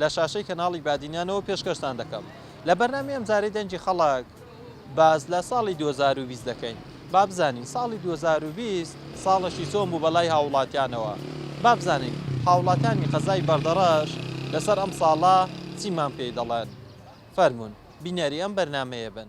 لە شاشەی کەناڵی بادینانەوە پێشکەشتان دەکەم لە بەرنامەی ئەمجارەی دەنگی خەڵک باس لە ساڵی دوو هەزار و بیست دەکەین با بزانین ساڵی دوو هەزار و بیست ساڵەشی چۆن بوو بە لای هاووڵاتیانەوە با بزانین هاووڵاتیانی قەزای بەردەڕەش لەسەر ئەم ساڵە چیمان پێی دەڵێن فەرموون بینەری ئەم بەرنامەیە بن.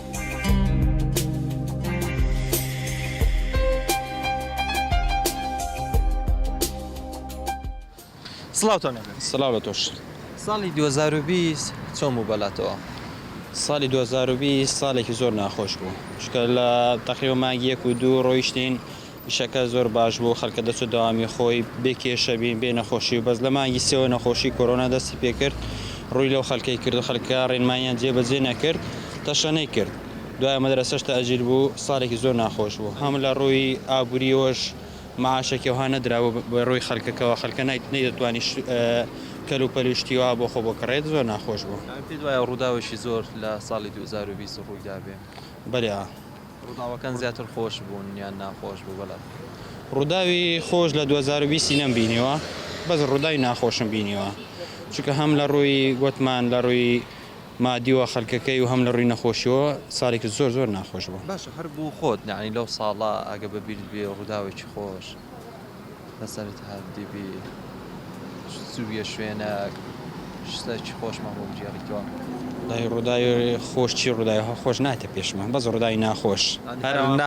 ساڵی دوو هەزار و بیست چۆن بوو بەلاتەوە؟ ساڵی دوو هەزار و بیست ساڵێکی زۆر ناخۆش بوو چونکە لە تەقریبەن مانگی یەک و دوو ڕۆیشتین، ئیشەکە زۆر باش بوو خەلکە دەست و دەوامی خۆی بێ کێشە بین بێ نەخۆشی و بەس لە مانگی سێوە نەخۆشی کۆرۆنا دەستی پێ کرد ڕووی لەو خەلکەی کرد و خەلکە ڕێنماییان جێ بەجێ نەکرد تەشەنەی کرد دوایە مەدرەسەش تەئجیل بوو ساڵێکی زۆر ناخۆش بوو هەم لە ڕووی ئابووریەوەش مەعاشێکی وەها نەدرا بوو بە ڕووی خەلکەکەوە خەلکە نەیدەتوانی کەل و پەل و شتی وا بۆ خۆ بکڕێت زۆر ناخۆش بوو. پێت وایە ڕووداوێکی زۆر لە ساڵی دوو هەزار و بیست ڕووی دابێ؟ بەلێ ئا. ڕوداوەکان زیاتر خۆش بوون یان ناخۆش بوو بەلات؟ ڕوداوی خۆش لە دوو هەزار و بیست ی نەم بینیوە بەس ڕوداوی ناخۆشم بینیوە چونکە هەم لە ڕووی گۆتمان لە ڕووی مادیوە خەلکەکەی و هەم لە ڕووی نەخۆشیوە سالیکی زۆر زۆر ناخۆش بوو. باشە هەر بۆ خۆت یانی لەو ساڵە ئەگە بە بیرت بێ ڕوداوێکی خۆش؟ لەسەرت هەردی بی زوویە شوێنەک شتەکی خۆشمان بۆ بگێڕیتەوە. دای ڕوداوی خۆش چی ڕوداوی هە خۆش نایتە پێشمان بەس ڕوداوی ناخۆش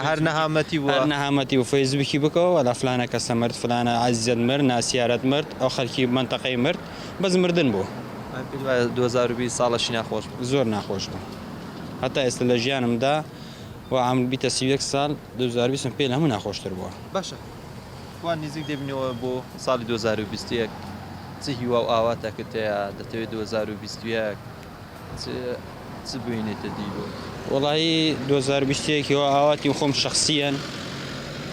هەر نەهامەتی بوە هەر نەهامەتی و فەیسبوکی بکەوە وەلا فلانە کەسە مرد فلانە عەزیزت مرد ناسیارت مرد ئەو خەلکی مەنتەقەی مرد بەس مردن بوو من پێت وایە دوو هەزار و بیست ساڵەکی ناخۆش بوو زۆر ناخۆش بوو هەتا ئێستا لە ژیانمدا وە عەمر بیتە سی و یەک ساڵ دوو هەزار و بیست پێ لە هەموو ناخۆشتر بوە. باشە وا نیزیک دەبینەوە بۆ ساڵی دوو هەزار و بیست و یەک چ هیوا و ئاواتەکت هەیە دەتەوێت دوو هەزار و بیست و یەک چ چ بوینێتە دی بۆ وەڵایی دوو هەزار و بیست و یەک هیوا ئاواتی خۆم شەخسیەن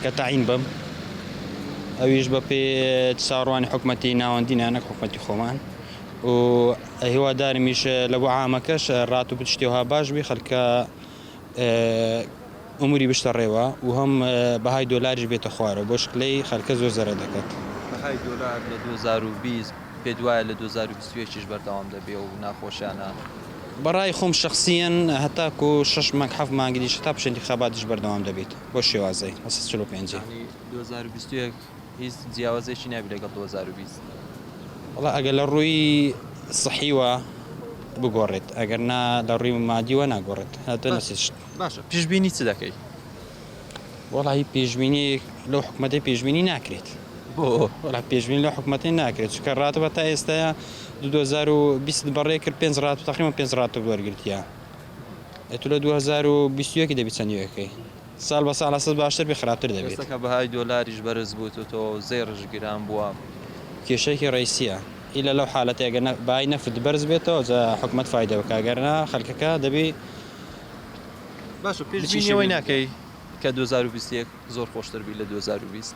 کە تەعین بم ئەویش بە پێ چاڕوانی حکومەتی ناوەندی نانەک حکومەتی خۆمان و هیوادارمیش لە بۆ عامەکەش ڕات و پشتێوها باش بی خەلکە ئەموری بشتە ڕێوە و هەم بەهای دۆلاریش بێتە خوارەوە بۆ شکلەی خەلکە زۆر زەرەر دەکەت. بەهای دۆلار لە دوو هەزار و بیست پێت وایە لە دوو هەزار و بیست و یەک یش بەردەوام دەبێ و ناخۆشیانە؟ بەڕای خۆم شەخسیەن هەتاکو شەش مانگ حەفت مانگ ئیدیش هەتا پشە انتیخاباتیش بەردەوام دەبیت بەو شێوازەی هەسەد چل و پێنج. یانی دوو هەزار و بیست و یەک هیچ جیاوازیەکی نابی لەگەڵ دوو هەزار و بیست؟ وەڵا ئەگەر لە ڕووی سەحیوە بگۆڕێت ئەگەر نا لە ڕووی مادیوە ناگۆڕێت هەتە نەسیشت باشە پیشبینی چ دەکەی؟ وەڵا هی پێشبینیەک لەو حکومەتەی پێشبینی ناکرێت بۆ وەڵا پێشبینی لەو حکومەتەی ناکرێت چکە ڕاتەوە تا ئێستاە 2020 بەڕێ کرد پێنج ڕات و تەقریبا پێنج ڕات وەرگرتیە ئەتو لە 2021 دەبی چەندی ئەکەی ساڵ بە ساڵ ئەسڵ باشتر بێ خراپتر دەبێت. ئێستا کە بەهای دۆلاریش بەرز بوتوتەوە و زێڕیش گران بوە کێشەیەکی ڕیسیە ئیلا لەو حالەتەی گەر بەهای نەفت بەرز بێتەوە جا حکومەت فایدە بکا گەر نا خەلکەکە دەبی باشە پێشبینی ئەوەی ناکەی کە دوو هەزار و بیست و یەک زۆر خۆشتر بی لە دوو هەزار و بیست؟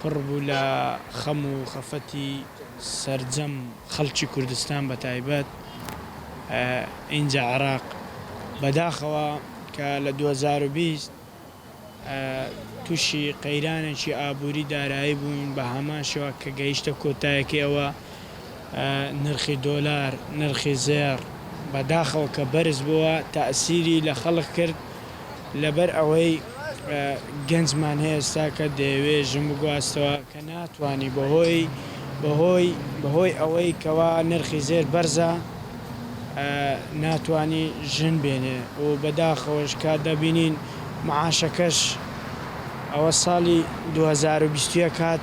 پڕ بوو لە خەم و خەفەتی سەرجەم خەڵکی کوردستان بەتایبەت ئینجا عێراق بەداخەوە کە لە دوو هەزار و بیست تووشی قەیرانێکی ئابووری دارایی بووین بە هەمان شێوە کە گەیشتە کۆتایەکەی ئەوە نرخی دۆلار، نرخی زێڕ بە داخەوە کە بەرز بووە تەئسیری لە خەڵک کرد لەبەر ئەوەی گەنجمان هەیە ئێستا کە دەیەوێ ژن بگواستەوە کە ناتوانی بە هۆی بە هۆی بە هۆی ئەوەی کەوا نرخی زێر بەرزە ناتوانی ژن بێنێ و بە داخەوەش کە دەبینین معاشەکەش ئەوە ساڵی دوو هەزار و بیست و یەک هات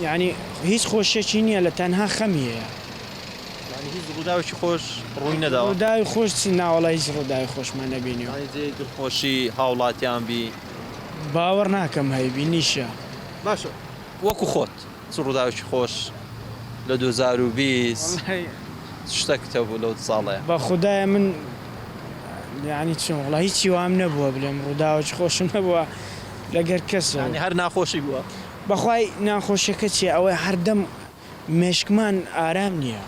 یانی هیچ خۆشیەکی نیە لە تەنها خەمی هەیە. یانی هیچ ڕوداوێکی خۆش ڕووی نەداوە. ڕوداوی خۆش چی ناوەڵا هیچ ڕوداوی خۆشمان نەبینیوە. یانی جێی دڵخۆشی هاوڵاتیان بی. باوەڕ ناکەم هەیبی نیشە. باشە وەکو خۆت چ ڕوداوێکی خۆش لە دوو هەزار و بیست چ شتەکت هەبوو لەو دە ساڵەیا. بەخودای من یانی چۆن وەڵا هیچی وام نەبووە بلێم ڕوداوێکی خۆشم نەبووە لەگەر کەسەو. یانی هەر ناخۆشی بووە. بەخوای ناخۆشیەکە چیە ئەوەی هەردەم مێشکمان ئارام نیە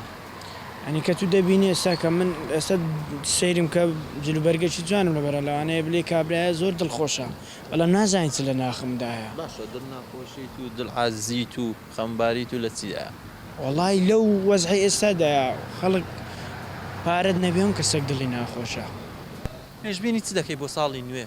یانی کەتو دەبینی ئێستا کە من ئێستا سەیرم کە جلوبەرگەکی جوانم لەبەرە لەوانەیە بلی کابرایە زۆر دڵخۆشە بەڵام نازانی چ لەناخمدایە. باشە دڵ ناخۆشیت و دڵ عازیت و خەمباریت و لە چیدایە؟ وەڵای لەو وەزعی ئێستادایە خەڵک پارەت نەبێ ئەم کەسەک دڵی ناخۆشە. پێشبینی چ دەکەی بۆ ساڵی نوێ؟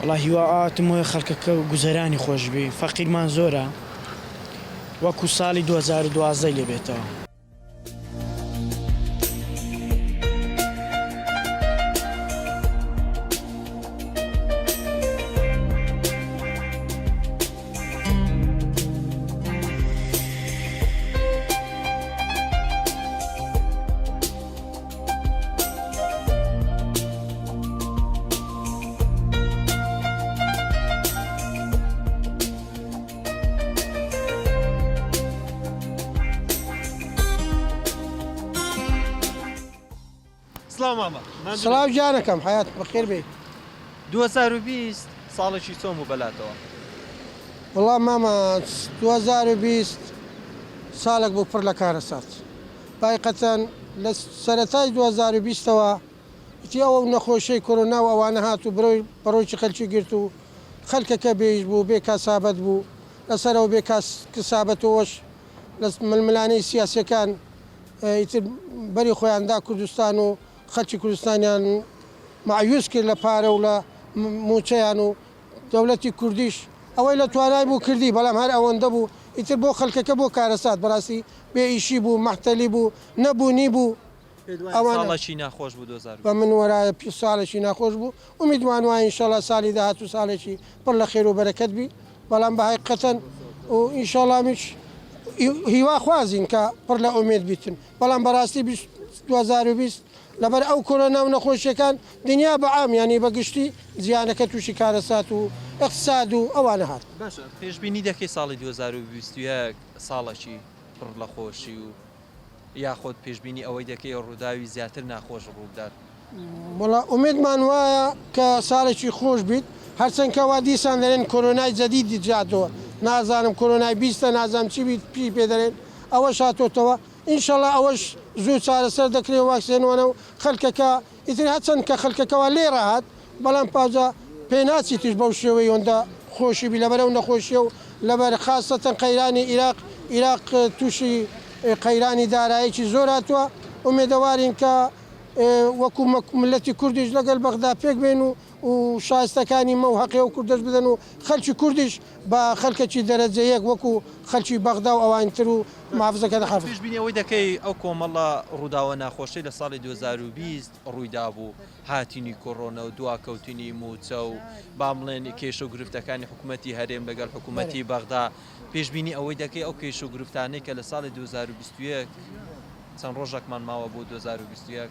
وەڵا هیوا ئاواتم وەیە خەڵکەکە گوزەرانی خۆش بی فەقیرمان زۆرە وەکو ساڵی دوو هەزار و دوازدە لێ بێتەوە. سڵاو جارەکەم حیات بەخێر بێت 2020 ساڵێکی چۆم و بەلاتەوە وڵام مامە 2020 ساڵێک بۆ پڕ لە کارە سات بایقەتەن لە سەرەتای دوو هەزار و بیست ەوە ئیتی ئەوە و نەخۆشیەی کۆرۆنا و ئەوانە هات و برۆی بەڕۆکی خەلکی گرت و خەلکەکە بێ ئیش بوو بێ کاسابەت بوو لە سەرەوە بێ کاس کسابەت و ئەوەش لە ململانێی سیاسیەکان ئیتر بەری خۆیان دا کوردستان و خەلکی کوردستانیان مایوس کرد لە پارە و لە موچەیان و دەولەتی کوردیش ئەوەی لە توانای بوو کردی بەڵام هەر ئەوەندە بوو ئیتر بۆ خەلکەکە بۆ کارەسات بەراستی بێ ئیشی بوو مەحتەلی بوو نەبوونی بوو ئەوانە بە من وەرایە پی سالەکی ناخۆش بوو ئومیدمان وایە ئینشەلا سالی داهاتوو سالێکی پڕ لە خێرو بەرەکەت بی بەڵام بە هەیقەتەن و ئینشەلا میش هیوا خوازین کە پڕ لە ئومێد بیتن بەڵام بەراستی بیست دوهەزار و بیست لەبەر ئەو کۆرۆنا و نەخۆشیەکان دنیا بە عام یانی بە گشتی جیهانەکە تووشی کارەسات و ئیقتساد و ئەوانە هات. باشە پێشبینی دەکەی ساڵی دوو هەزار و بیست و یەک ساڵەکی پڕ لە خۆشی و یاخۆد پێشبینی ئەوەی دەکەی ڕووداوی زیاتر ناخۆش ڕووبدات؟ وەڵا ئومێدمان وایە کە ساڵێکی خۆش بیت هەرچەند کە وا دیسان دەرێن کۆرۆنای جەدیدی جیاتۆوە نازانم کۆرۆنای بیستە نازانم چی بیت پی پێ دەرێن ئەوەش هاتۆتەوە ئینشەڵا ئەوەش زوو چارەسەر دەکرێ واکسێنوەنەو خەلکەکە ئیتر هەچەند کە خەلکەکەوا لێ ڕەهات بەڵام پاجا پێناچی تیش بەو شێوەی هۆندە خۆشی بی لەبەر ئەو نەخۆشیە و لەبەر خاسەتەن قەیرانی ئیراق ئیراق توشی قەیرانی دارایەکی زۆر هاتوە ئومێدەوارین کە وەکو مەک ملەتی کوردیش لەگەل بەغدا پێک بێن و و شایستەکانی مەو هەقی ئەو کوردەش بدەن و خەلکی کوردیش بە خەلکەکی دەرەجە یەک وەکو خەلکی بەغدا و ئەوانی تر و محافزەکە دە حافز. پێشبینی ئەوەی دەکەی ئەو کۆمەڵە ڕووداوە ناخۆشەی لە ساڵی دوو هەزار و بیست ڕوویدابوو، هاتنی کۆرۆنە و دواکەوتنی مووچە و با بڵێن کێشە و گرفتەکانی حکومەتی هەرێم لەگەڵ حکومەتی بەغدا، پێشبینی ئەوەی دەکەی ئەو کێشە و گرفتانەی کە لە ساڵی دوو هەزار و بیست و یەک چەند ڕۆژەکمان ماوە بۆ دوو هەزار و بیست و یەک،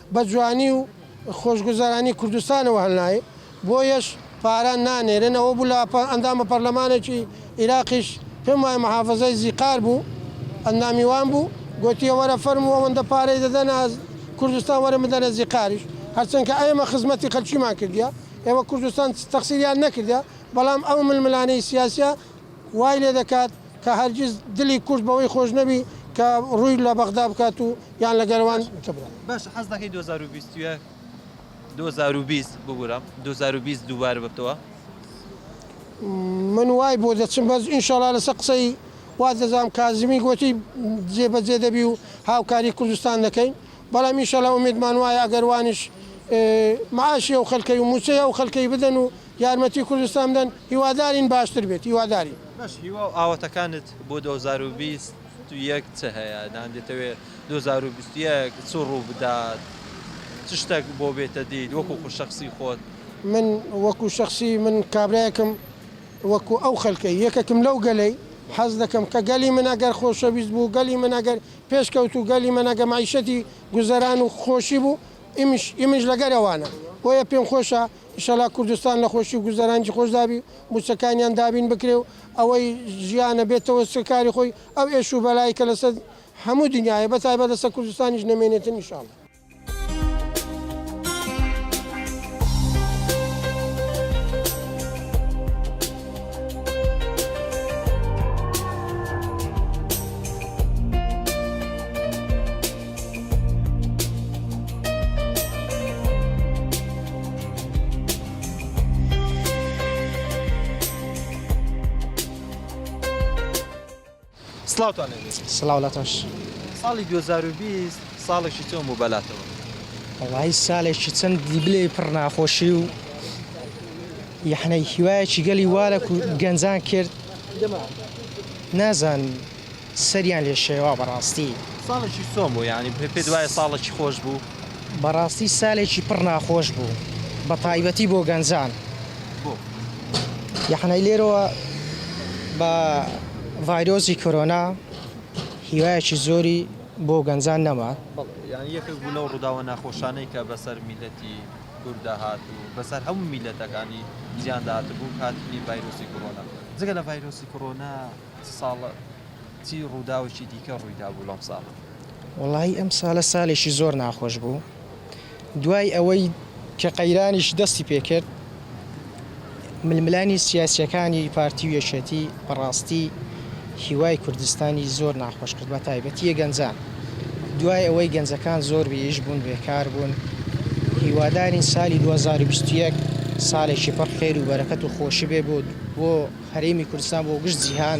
بە جوانی و خۆشگوزەرانی کوردستانەوە هەلنایێ، بۆیەش پارە نانێرێن، ئەوە بوو لە ئەندامە پەرلەمانێکی ئیراقیش پێم وایە محافزەی زیقار بوو ئەندامی وان بوو، گۆتیە وەرە فەرموو ئەوەندە پارەی دەدەنە کوردستان وەرن بدەنە زیقاریش، هەرچەند کە ئێمە خزمەتی خەلکیمان کردیە، ئێوە کوردستان تەخسیریان نەکردە، بەڵام ئەو ململانێی سیاسیە وای لێ دەکات، کە هەرگیز دلی کورد بەوەی خۆش نەبی کە ڕووی لە بەغدا بکات و یان لە گەروان ببرێت. باشە حەز دەکەی دوو هەزار و بیست و یەک دوو هەزار و بیست ببورە دوو هەزار و بیست دووبارە ببتەوە؟ من وای بۆ دەچم بەس ئینشەڵا لەسەر قسەی وات دەزانم کازمی گۆتی جێ بەجێ دەبی و هاوکاری کوردستان دەکەین بەڵام ئینشەڵا ئومێدمان وایە ئەگەر وانیش معاشی ئەو خەلکەی و موچەی ئەو خەلکەی بدەن و یارمەتی کوردستان بدەن هیوادارین باشتر بێت هیوادارین. بەس هیوا و ئاواتەکانت بۆ دوو هەزار و بیست و یەک چ هەیە یان دەتەوێ دوو هەزار و بیست و یەک چ ڕوو بدات چ شتەک بۆ بێتە دیت وەکو خو شەخسی خۆت؟ من وەکو شەخسی من کابرایەکم وەکو ئەو خەلکەی یەکەکم لەو گەلەی حەز دەکەم کە گەلی من ئەگەر خۆشەویست بوو گەلی من ئەگەر پێش کەوتوو گەلی من ئەگە مەعیشەتی گوزەران و خۆشی بوو ئیمش ئیمنش لەگەر ئەوانە بۆیە پێم خۆشە ئیشەڵا کوردستان لە خۆشی و گوزەرانکی خۆشدا بی و موچەکانیان دابین بکرێ و ئەوەی ژیانە بێتەوە سەر کاری خۆی ئەو ئێش و بەلای کە لەسەر هەموو دنیایە بە تایبەت لەسەر کوردستانیش نەمێنێتن ئیشاڵا. سڵاوتان لێبێ سڵاو لە تۆش ساڵی 2020 ساڵێکی چۆن بوو بەلاتەوە وڵی سالێکی چەند دیبلێ پڕ ناخۆشی و یحنەی هیوایەکی گەلی وارە و گەنجان کرد نازانم سەریان لێ شێوا بەڕاستی. ساڵێکی سۆم بوو یانی پێت وایە ساڵێکی خۆش بوو؟ بەڕاستی سالێکی پڕ ناخۆش بوو بە تایبەتی بۆ گەنجان. بۆ؟ یەحنەی لێرەوە بە ڤایرۆسی کۆرۆنا هیوایەکی زۆری بۆ گەنجان نەما. بەڵێ یانی یەکێک بوو لەو ڕووداوە ناخۆشانەی کە بەسەر میلەتی کورددا هات و بەسەر هەموو میلەتەکانی جیهاندا هاتبوو هاتنی ڤایرۆسی کۆرۆنا جگە لە ڤایرۆسی کۆرۆنا ساڵە چی ڕووداوێکی دیکە ڕوویدابوو لەم ساڵە؟ وەڵاهی ئەم ساڵە سالێکی زۆر ناخۆش بوو دوای ئەوەی کە قەیرانیش دەستی پێکرد ململانی سیاسیەکانی پارتی و یەکێتی بەڕاستی هیوای کوردستانی زۆر ناخۆش کرد بە تایبەتیە گەنجان دوای ئەوەی گەنجەکان زۆر بیش بوون بێکار بوون هیوادارین سالی 2021 سالێکی پڕ خێر و بەرەکەت و خۆشی بێ بۆ بۆ هەرێمی کوردستان بۆ گشت جیهان.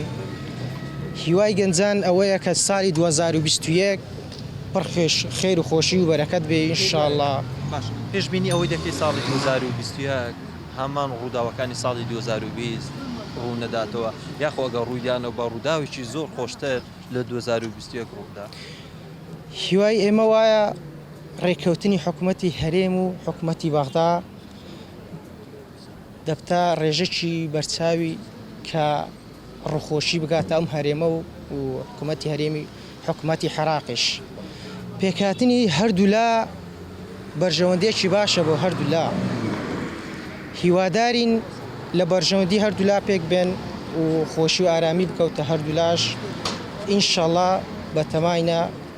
هیوای گەنجان ئەوەیە کە سالی دوو هەزار و بیست و یەک پڕ خێش خێر و خۆشی و بەرەکەت بێ ان شاءاللە. باشە پێش بینی ئەوەی دەکەی ساڵی دوو هەزار و بیست و یەک هەمان ڕووداوەکانی ساڵی دوو هەزار و بیست ڕوو نەداتەوە یاخۆ ئەگەر ڕووی دانەوە بە ڕووداوێکی زۆر خۆشتر لە دوو هەزار و بیست و یەک ڕوو بدا؟ هیوای ئێمە وایە ڕێککەوتنی حکومەتی هەرێم و حکومەتی بەغدا. دەبتە ڕێژەکی بەرچاوی کە ڕووخۆشی بگاتە ئەم هەرێمە و حکوومەتی هەرێمی حکوومەتی حێراقیش. پێکهاتنی هەردوولا بەرژەوەندیەکی باشە بۆ هەردوولا. هیوادارین لە بەرژەوەندی هەردوولا پێک بێن و خۆشی و ئارامی بکەوتە هەردوولاش ئینشەڵا بەتەماینە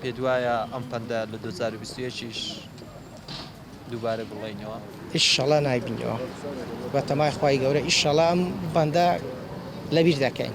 پێت وایە ئەم پەندە لە دوو هەزار و بیست و یەک یش دووبارە گوڵێینەوە؟ ئیشەڵا نایبینەوە بەتەمای خوای گەورە ئیشەڵا ئەم پەندە لەبیر دەکەین.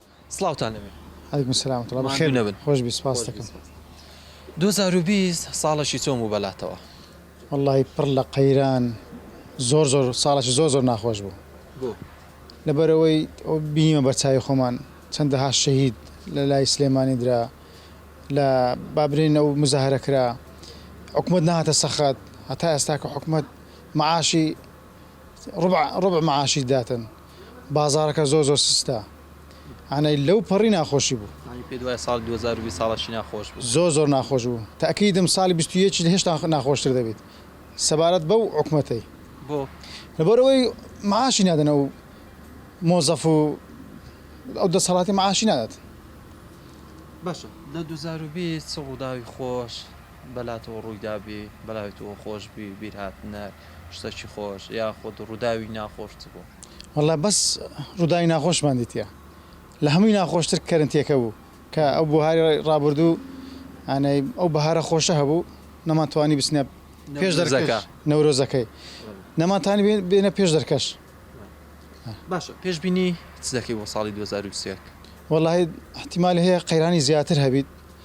سڵاوتان لەوێ. علیکم سلام ورحمە اللە بەخێر بێی خۆشبی سوپاست دەکەم. دوو هەزار و بیست ساڵەکی چۆن بوو بەلاتەوە؟ وەڵاهی پڕ لە قەیران زۆر زۆر ساڵەکی زۆر زۆر ناخۆش بوو. بۆ؟ لەبەرئەوەی بینیمە بەچاوی خۆمان چەندەها شەهید لە لای سلێمانی درا لە با برێن ئەو مزاهرە کرا حکومەت نەهاتە سەخت هەتا ئێستا کە حکومەت معاشی ڕوبع ڕوبع معاشی داتن بازاڕەکە زۆر زۆر سستە ئەعنەی لەو پەڕی ناخۆشی بوو. یانی پێت وایە ساڵی دوو هەزار و بیست ساڵەکی ناخۆش بوو؟ زۆر زۆر ناخۆش بوو تەئکیدم ساڵی بیست و یەک هێشتا ناخۆشتر دەبیت سەبارەت بەو حکومەتەی. بۆ؟ لەبەر ئەوەی معاشی نادەن ئەو مۆزەف و ئەو دەسەڵاتی معاشی نادات. باشە لە دوو هەزار و بیست چ ڕووداوی خۆش بەلاتەوە ڕوویدابی، بەلای تۆ خۆشبی، بیرهاتنە شتەکی خۆش یاخود ڕووداوی ناخۆش چ بوو؟ وەڵا بەس ڕووداوی ناخۆشمان دیتیە لە هەمووی ناخۆشتر کەرنتیەکە بوو کە ئەو بوهاری ڕابوردوو یانێ ئەو بەهارە خۆشە هەبوو نەمان توانی بچنە پێش دەرزەکە نەورۆزەکەی نەمان تانی بێنە پێش دەرکەش باشە پێشبینی چ دەکەی بۆ ساڵی دوو هەزار و بیست و یەک؟ وەڵاهی ئیحتیمالی هەیە قەیرانی زیاتر هەبیت.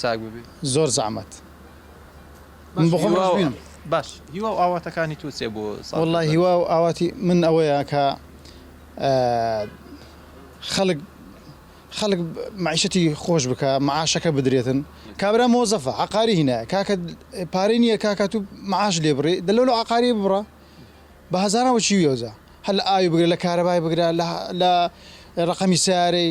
چاک ببێ. زۆر زەعمەت من بۆ خۆم ڕەش بینم. باش هیوا و ئاواتەکانی تۆ چیە بۆ ساڵی نوێ؟ وەڵا هیوا و ئاواتی من ئەوەیە کە خەڵک خەڵک مەعیشەتی خۆش بکا مەعاشەکە بدرێتن کابرا مۆزەفە عەقاری هینایە کاکە پارەی نییە کاکە تو مەعاش لێ بڕی دە لۆ لە عەقاری ببڕە بە هەزاران وەچی وێوزە هەر لە ئاوی بگرە لە کارەبای بگرە لە ڕەقەمی سارەی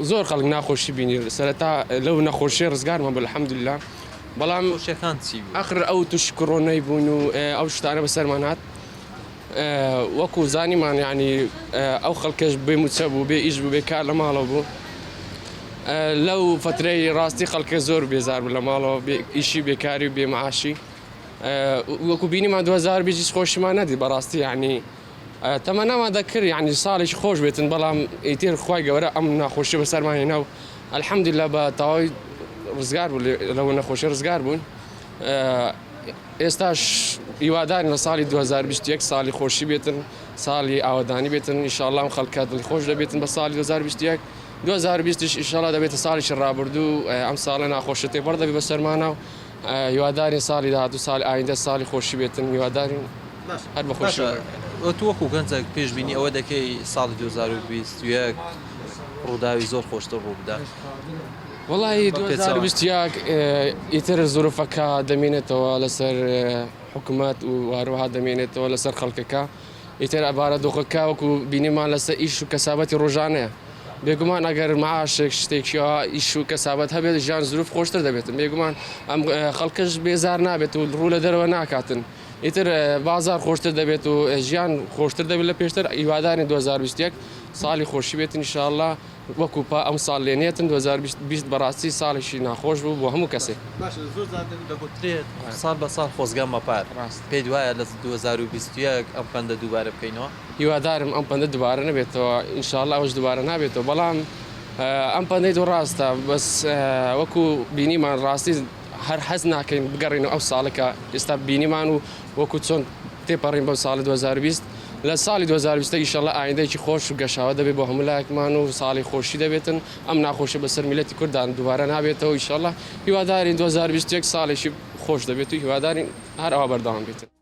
زۆر خەڵک ناخۆشی بینی سەرەتا لەو نەخۆشیە ڕزگارمان بە الحمدللە بەڵام شەکان چی ئەخر ئەو توش کڕۆنەی بوون و ئەو شتانە بەسەرمان هاات وەکو زانیمان ینی ئەو خەڵکەش بێ موچە بوو بێ ئیش بوو بێ کار لە ماڵەوە بوو لەو فترەی ڕاستی خەڵکە زۆر بێزار بوو لە ماڵەوە ئیشی بێکاری و بێمەعاشی وەکو بینیمان 2020 خۆشیمان نەدی بەڕاستی ینی تەمەنامان دەکرد یەعنی ساڵێکی خۆش بێتن بەڵام ئیتر خوای گەورە ئەم ناخۆشیە بەسەرمان هێنا و الحمدللە بە تەواوی ڕزگار بوو لەوە نەخۆشی ڕزگار بوون ئێستاش هیوادارین لە ساڵی 2021 ساڵی خۆشی بێتن ساڵی ئاوادانی بێتن ئیشاڵام خەڵکە دڵی خۆش دەبێتن بە ساڵی 2021 2020 ئیشاڵا دەبێتە ساڵێکی ڕابردوو ئەم ساڵە ناخۆشە تێپەڕ دەبێت بە سەرمانە و هیوادارین ساڵی داهاتوو سال ئایندە ساڵی خۆشی بێتن هیوادارین هەر بە خۆشی باشە تۆ وەکو گەنجەک پێش بینی ئەوە دەکەی ساڵی دوو هەزار و بیست و یەک ڕووداوی زۆر خۆشتر ڕوو بدات وەڵاهی دوو هەزار و بیست و یەک ئیتر زورفەکە دەمێنێتەوە لەسەر حکومەت و هەروەها دەمێنێتەوە لەسەر خەڵکەکە ئیتر بارودۆخەکە وەکو بینیمان لەسەر ئیش و کەسابەتی ڕۆژانەیە، بێگومان ئەگەر مەعاشێک شتێکی ئاوا ئیش و کەسابەت هەبێت ژیان زروف خۆشتر دەبێتن، بێگومان ئەم خەڵکەش بێزار نابێت و ڕوو لە دەرەوە ناکاتن، ئیتر بازار خۆشتر دەبێت و ژیان خۆشتر دەبێت لە پێشتر، هیوادارین دوو هەزار و بیست و یەک ساڵی خۆشی بێتن ان شاء اللە. وەکو پا ئەم ساڵ لێ نێتن دوو هەزار و بیست بە ڕاستی ساڵێکی ناخۆش بوو بۆ هەموو کەسێک. باشە زۆر جار دەگوترێت ساڵ بە ساڵ خۆزگە مەپە ڕاست پێت وایە لە دوو هەزار و بیست و یەک ئەم پەندە دووبارە بکەینەوە؟ هیوادارم ئەم پەندە دووبارە نەبێتەوە ان شاء اللە ئەوەش دووبارە نابێتەوە بەڵام ئەم پەندەی تۆ ڕاستە بەس وەکو بینیمان ڕاستی هەر حەز ناکەین بگەڕێینەوە ئەو ساڵە کە ئێستا بینیمان و وەکو چۆن تێپەڕین بەو ساڵی 2020 لە ساڵی 2020 ئیشەڵە ئایندەیەکی خۆش و گەشاوە دەبێت بۆ هەموو لایەکمان و ساڵی خۆشی دەبێتن ئەم ناخۆشی بەسەر میلەتی کوردان دووبارە نابێتەوە ئیشەڵە هیوادارین 2021 ساڵێکی خۆش دەبێت و هیوادارین هەر ئەوە بەردەوام بێتن.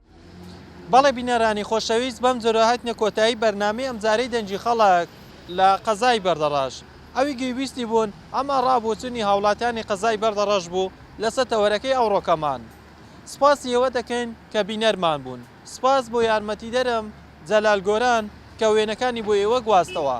بەڵێ بینەرانی خۆشەویست بەم جۆرە هاتینە کۆتایی بەرنامەی ئەمجارەی دەنگی خەڵک لە قەزای بەردەڕەش ئەوی گویبیستی بوون ئەمە ڕا بۆچونی هاوڵاتیانی قەزای بەردەڕەش بوو لەسە تەوەرەکەی ئەوڕۆکەمان سپاسی ئێوە دەکەین کە بینەرمان بوون سپاس بۆ یارمەتیدەرم جەلال گۆران کە وێنەکانی بۆ ئێوە گواستەوە